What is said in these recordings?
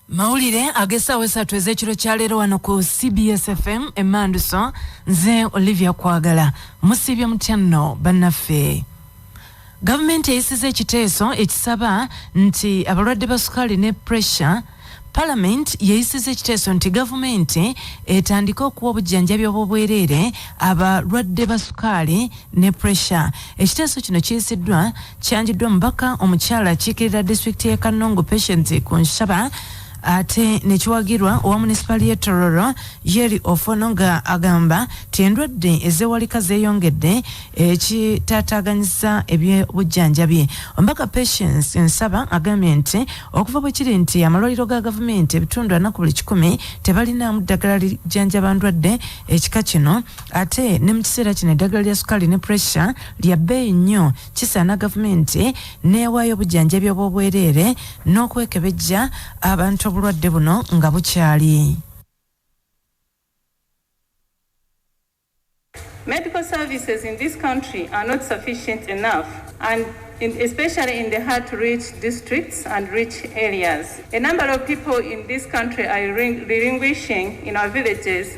mawulire ag'essaawa esatu ez'ekiro kya leero wano ku cbs fm emanduso nze olivia kwagala musiibye mutya nno bannaffe gavumenti eyisiza ekiteeso ekisaba nti abalwadde ba sukaali ne pressure palamenti yeyisiza ekiteeso nti gavumenti etandike okuwa obujjanjabi obwobwereere abalwadde ba sukaali ne pressure ekiteeso kino kiyisiddwa Kyanjiddwa omubaka omukyala akiikirira disitulikiti y'e Kannungu Patience Kunshaba ate nekiwagirwa owa munisipaali y'e Tororo Yeri Ofono nga agamba ti endwadde ezewalika zeeyongedde ekitaataaganyisa eby'obujjanjabi. Omubaka Patience Nsaba agambye nti okuva bwe kiri nti amalwaliro ga gavumenti ebitundu ana ku buli kikumi tebalinaamu ddagala lijjanjaba ndwadde ekika kino ate ne mu kiseera kino eddagala lya sukaali ne puresha lya bbeeyi nnyo kisaana gavumenti n'ewaayo obujanjabi obw'obwereere n'okwekebejja abantu obulwadde buno nga bukyali Medical services in this country are not sufficient enough and in, especially in the hard to reach districts and rich areas. A number of people in this country are relinquishing in our villages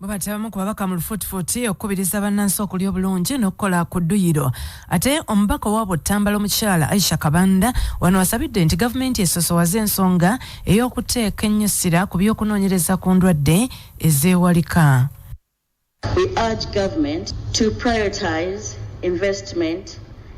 bwebatya bamu ku babaka mu lufuutifuuti okukubiriza bannansi okulya obulungi n'okukola ku dduyiro ate omubaka owa butambala omukyala aisha kabanda wano wasabidde nti gavumenti esosowaze ensonga ey'okuteeka ennyusira ku by'okunoonyereza ku ndwadde ezeewalika We urge government to prioritize investment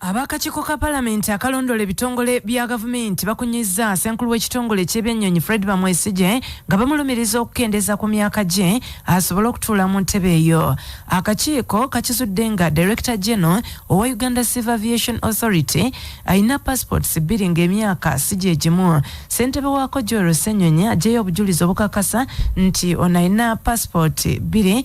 Ab'akakiiko ka palamenti akalondoola ebitongole bya gavumenti bakunyizza ssenkulu w'ekitongole eky'ebyennyonyi Fred Bamwesigye nga bamulumiriza okukendeeza ku myaka gye asobole okutuula mu ntebe eyo. Akakiiko kakizudde nga Director General owa Uganda Civil Aviation Authority alina passports bbiri ng'emyaka si gye gimu. Ssentebe waako Joel Ssenyonyi aggyeyo obujulizi obukakasa nti ono alina passport bbiri.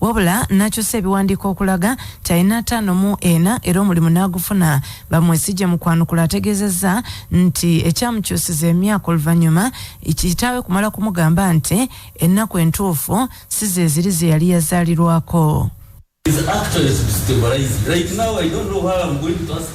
wabula nakyusa ebiwandiiko okulaga nti alina ataano mu ena era omulimu n'agufuna. Bamwesigye mu kwanukula ategeezezza nti ekyamukyusiza emyaka oluvannyuma kitaawe kumala kumugamba nti ennaku entuufu si ze ziri ze yali yazaalirwako.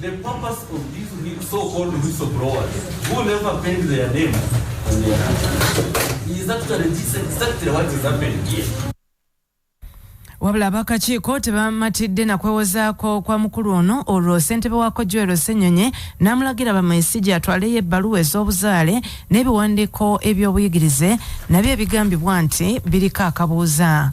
The purpose of these so-called whistleblowers who never paid their name on their is actually this exactly what is happening here. wabula abakakiiko tebamatidde na kwewozaako kwa mukulu ono olwo ssentebe wa kojwero ssenyonyi n'amulagira bamaisigi atwaleyo ebbaluwa ez'obuzaale n'ebiwandiiko eby'obuyigirize nabyo ebigambibwa nti biriko akabuuza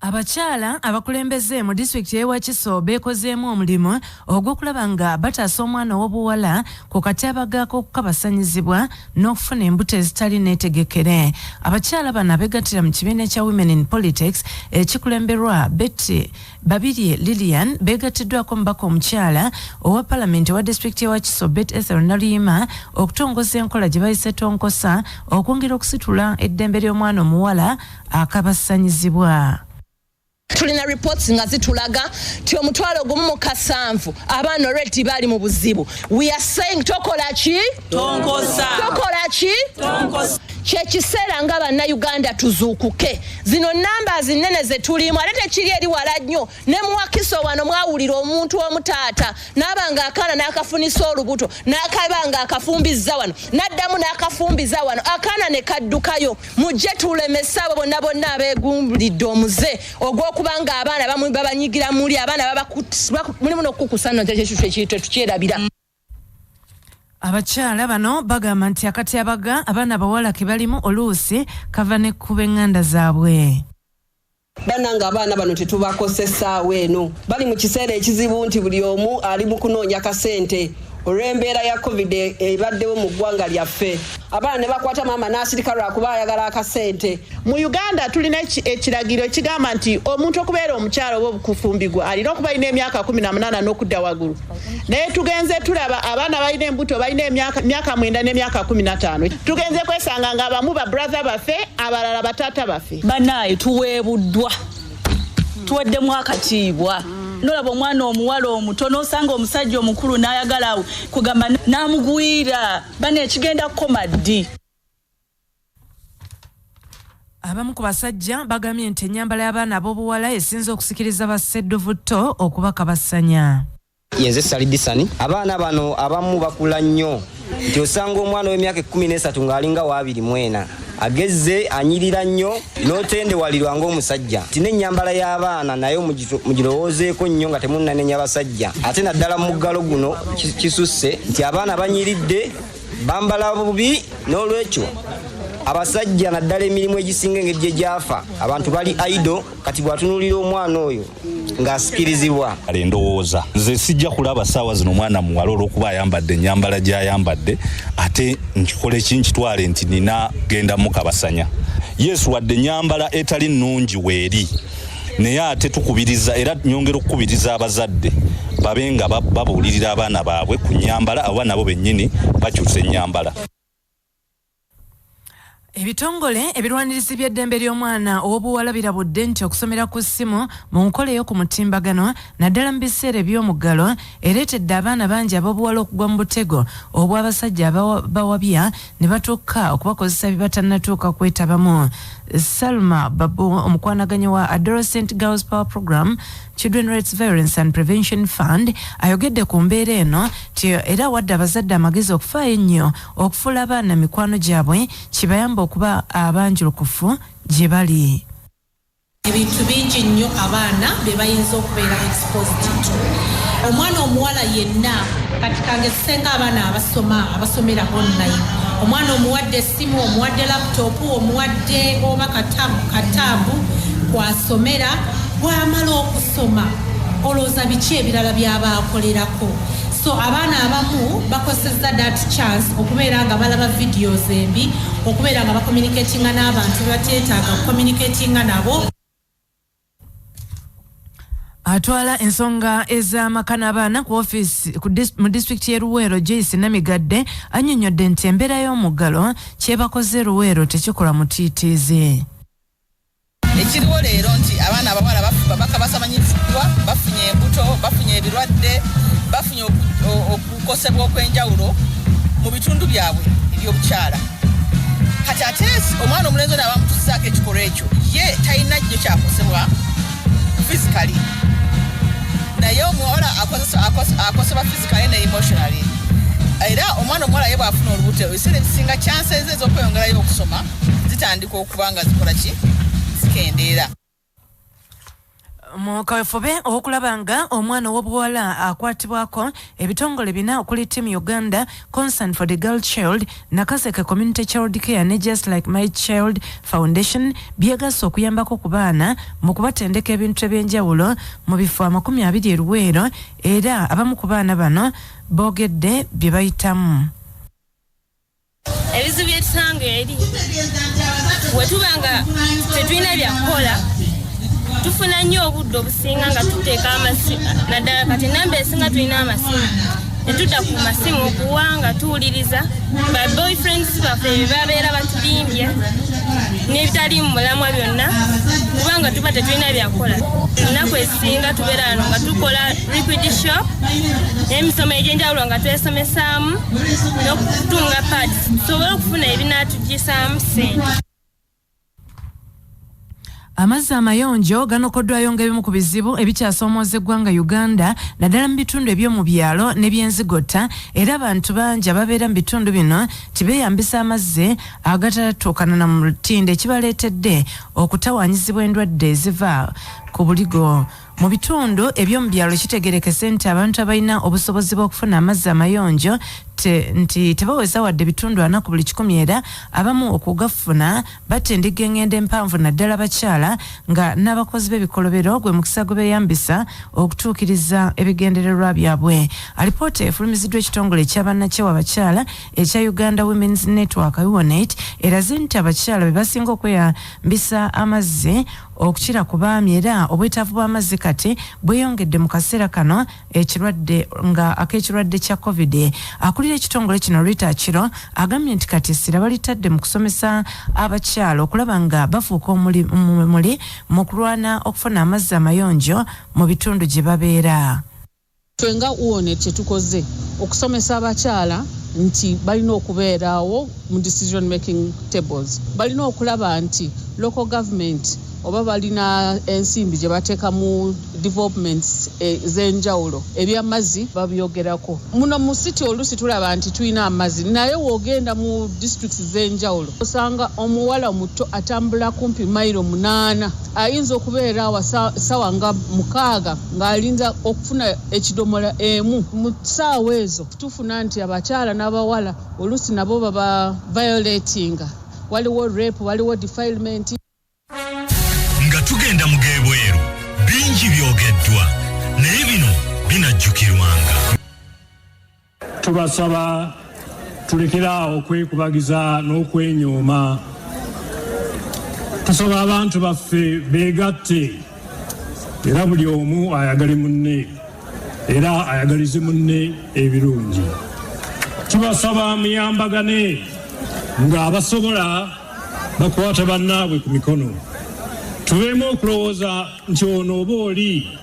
Abakyala abakulembeze mu disitulikiti y'e Wakiso beekozeemu omulimu ogw'okulaba nga bataasa omwana ow'obuwala ku katyabaga k'okukabasanyizibwa n'okufuna embuto ezitali neetegekere. Abakyala bano abeegattira mu kibiina ekya Women in Politics ekikulemberwa Betty Babirye Lilian beegattiddwako omubaka omukyala owa palamenti owa disitulikiti ewa Kiso Bet Ethel Naluyima okutongoza enkola gye bayise tonkosa okwongera okusitula eddembe ly'omwana omuwala akabasanyizibwa. tulina reports nga zitulaga ti omutwalo gumu mu kasanvu abaana olweti bali mu buzibu we are saying tokola ki tokola ki kyekiseera nga bannayuganda tuzuukuke zino namba zinene zetulimu ate tekiri eri wala nnyo ne muwakiso wano mwawulira omuntu omu taata naaba nga akaana n'akafunisa olubuto n'akaba nga akafumbizza wano n'addamu n'akafumbiza wano akaana ne kaddukayo mujje tulemese abo bonna bonna abeegumbulidde omuze ogw'okuba nga abaana babanyigira muli abaana mulimu n'okukukusa no kyekyo tetukyerabira abakyala bano bagamba nti akatyabaga abaana abawala ke balimu oluusi kava ne ku b'eŋŋanda zaabwe banange abaana bano tetubakose essaawa eno bali mu kiseera ekizibu nti buli omu ali mu kunoonya kasente olw'embeera ya covid ebaddewo mu ggwanga lyaffe abaana ne bakwata maama n'asirika lwakuba ayagala akasente mu uganda tulina ekiragiro ekigamba nti omuntu okubeera omukyalo oba obukufumbigwa alina okuba alina emyaka 18 n'okudda waggulu naye tugenze tulaba abaana balina embuto balina emyaka mwenda n'emyaka kumi nataano tugenze kwesanga nga abamu ba brother baffe abalala bataata baffe banaye tuweebuddwa tuweddemu akatiibwa nolaba omwana omuwala omuto nosanga omusajja omukulu nayagala kugamba namugwira bana ekigenda kukoma ddi Abamu ku basajja bagambye nti ennyambala y'abaana ab'obuwala esinze okusikiriza ba ssedduvutto okubakabasanya. Yenze Sali Disani. Abaana bano abamu bakula nnyo nti osanga omwana w'emyaka ekkumi n'esatu ng'alinga waabiri mwena agezze anyirira nnyo n'otendewalirwa ng'omusajja nti n'ennyambala y'abaana naye mugirowoozeeko nnyo nga temunnanenya basajja ate naddala mu muggalo guno kisusse nti abaana banyiridde bambala bubi n'olwekyo abasajja naddala emirimu egisinga engeri gye gyafa abantu bali aido kati bw'atunuulira omwana oyo ng'asikirizibwa kale ndowooza nze sijja kulaba saawa zino omwana muwala olw'okuba ayambadde ennyambala gy'ayambadde ate nkikola eki nkitwale nti nina genda mukabasanya yesu wadde ennyambala etali nnungi weeri naye ate tukubiriza era nyongera okukubiriza abazadde babe nga babuulirira abaana baabwe ku nyambala aba nabo bennyini bakyusa ennyambala ebitongole ebirwanirizi by'eddembe ly'omwana ow'obuwala birabudde nti okusomera ku ssimu mu nkola ey'oku mutimbagano naddala mu biseera eby'omuggalo ereetedde abaana bangi ab'obuwala okugwa mu butego obw'abasajja abawabya ne batuuka okubakozesa bye batannatuuka kwetabamu salma babu omukwanaganyi wa adolescent girls power program children rights violence and prevention fund ayogedde ku mbeera eno ti era wadde abazadde amagezi okufaayo ennyo okufuula abaana mikwano gyabwe kibayamba okuba abanjulukufu gye bali Ebintu bingi nnyo abaana bye bayinza okubeera exposed to. Omwana omuwala yenna kati kangezisenga abaana abasoma abasomera online. Omwana omuwadde essimu, omuwadde laptop, omuwadde oba katabu kataabu kw'asomera, bw'amala okusoma olowooza biki ebirala by'aba akolerako? so abaana abamu bakosezza dat chance okubeera nga balaba videos embi okubeera nga bacommunicatinga n'abantu bebateetaaga kucommunicatinga nabo atwala ensonga ez'amaka n'abaana ku ofiisi mu disitulikiti y'e luweero joyce namigadde annyonnyodde nti embeera y'omuggalo kyebakoze luweero tekikola mutiitiizi Ekiriwo leero nti abaana abawala bafuba bakabasamanyiziddwa bafunye embuto bafunye ebirwadde bafunye okukosebwa okw'enjawulo mu bitundu byabwe ebyobukyala kati ate omwana omulenzi ono abamutusaako ekikolwa ekyo ye talina jjo kyakosebwa fisikali naye omuwala akosebwa fisikali ne emotionally era omwana omuwala ye bwafuna olubuto ebiseera ebisinga kyansenze ez'okweyongerayo okusoma zitandika zitandika okuba nga zikola ki zikendeera mu kawefube ow'okulaba nga omwana ow'obuwala akwatibwako ebitongole bina okuli team uganda concern for the girl child nakaseke community child care ne just like my child foundation byegasse okuyambako ku baana mu kubatendeka ebintu eby'enjawulo mu bifo amakumi abiri eruweero era abamu ku baana bano boogedde bye bayitamu ebizibu byetusanga eri wetuba nga tetulina byakukola tufuna nnyo obudde obusinga nga tuteeka amasimu naddala kati enamba esinga tulina amasimu netudda ku masimu okuwa nga tuwuliriza ba boyfriends baffe bebabeera batudimbye n'ebitali mu mulamwa byonna kubanga tuba tetulina byakukola ennaku esinga tubeera ano nga tukola liquid shop n'emisomo egy'enjawulo nga twesomesaamu n'okutunga pads tusobole okufuna ebinaatuggisaamu ssente amazzi amayonjo ganokoddwayo ng'ebimu ku bizibu ebikyasomooza eggwanga uganda naddala mu bitundu eby'omu byalo n'ebyenzigotta era abantu bangi ababeera mu bitundu bino tibeeyambisa amazzi agatatatuukana na mu lutindo ekibaleetedde okutawanyizibwa endwadde eziva ku buligo Mu bitundu eby'omu byalo kitegerekese nti abantu abalina obusobozi bw'okufuna amazzi amayonjo te, nti tebaweza wadde bitundu ana ku buli kikumi era abamu okugafuna batindigga engendo empanvu naddala abakyala nga n'abakozi b'ebikolobero gwe mukisa gwe beeyambisa okutuukiriza ebigendererwa byabwe. Alipoota efulumiziddwa ekitongole ekya bannakyewa abakyala ekya Uganda Women's Network UWONET eraze nti abakyala be basinga okweyambisa amazzi okukira ku baami era obwetaavu bw'amazzi kati bweyongedde mu kaseera kano ekirwadde nga ak'ekirwadde kya covid akulira ekitongole kino rita kiro agambye nti kati essira balitadde mu kusomesa abakyalo okulaba nga bafuuka omuli mu kulwana okufuna amazzi amayonjo mu bitundu gye babeera Ffe nga UONET kye tukoze okusomesa abakyala nti balina okubeeraawo mu decision making tables. Balina okulaba nti local government oba balina ensimbi gye bateeka mu developments ez'enjawulo, eby'amazzi babyogerako. Muno mu city oluusi tulaba nti tulina amazzi naye w'ogenda mu districts z'enjawulo osanga omuwala omuto atambula kumpi mayiro munaana. ayinza okubeera awa sawa nga mukaaga ng'alinza okufuna ekidomola emu mu saawa ezo tufuna nti abakyala n'abawala oluusi nabo baba violatinga waliwo rape waliwo defilement nga tugenda mu gebweru bingi byogeddwa naye bino binajjukirwanga Tubasaba tulekere awo okwekubagiza n'okwenyooma. Tusaba abantu baffe beegatte era buli omu ayagale munne era ayagalize munne ebirungi. Tubasaba muyambagane ng'abasobola bakwata bannaabwe ku mikono. Tubeemu okulowooza nti ono oba oli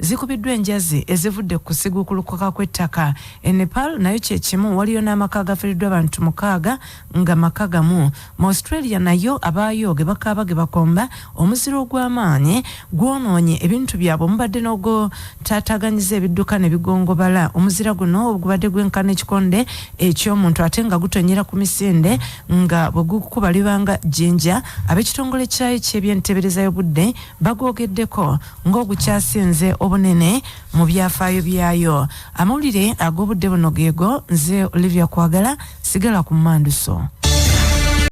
zikubiddwa enjazi ezivudde ku kusiguukulukuka kw'ettaka. E Nepal nayo kye kimu, waliyo n'amaka agafiiriddwa abantu mukaaga nga maka gamu. Mu Australia nayo abaayo ge bakaaba ge bakomba, omuzira ogw'amaanyi gwonoonye ebintu byabwe omubadde n'ogutaataaganyiza ebidduka ne bigongobala. Omuzira guno ogubadde gwenkana ekikonde eky'omuntu ate nga gutonnyera ku misinde nga bwe gukukubalibanga jjinja, ab'ekitongole kyayo ky'ebyenteebereza y'obudde bagwogeddeko ng'ogukyasinze obunene mu byafaayo byayo amawulire ag'obudde buno geego nze olivia kwagala sigala ku manduso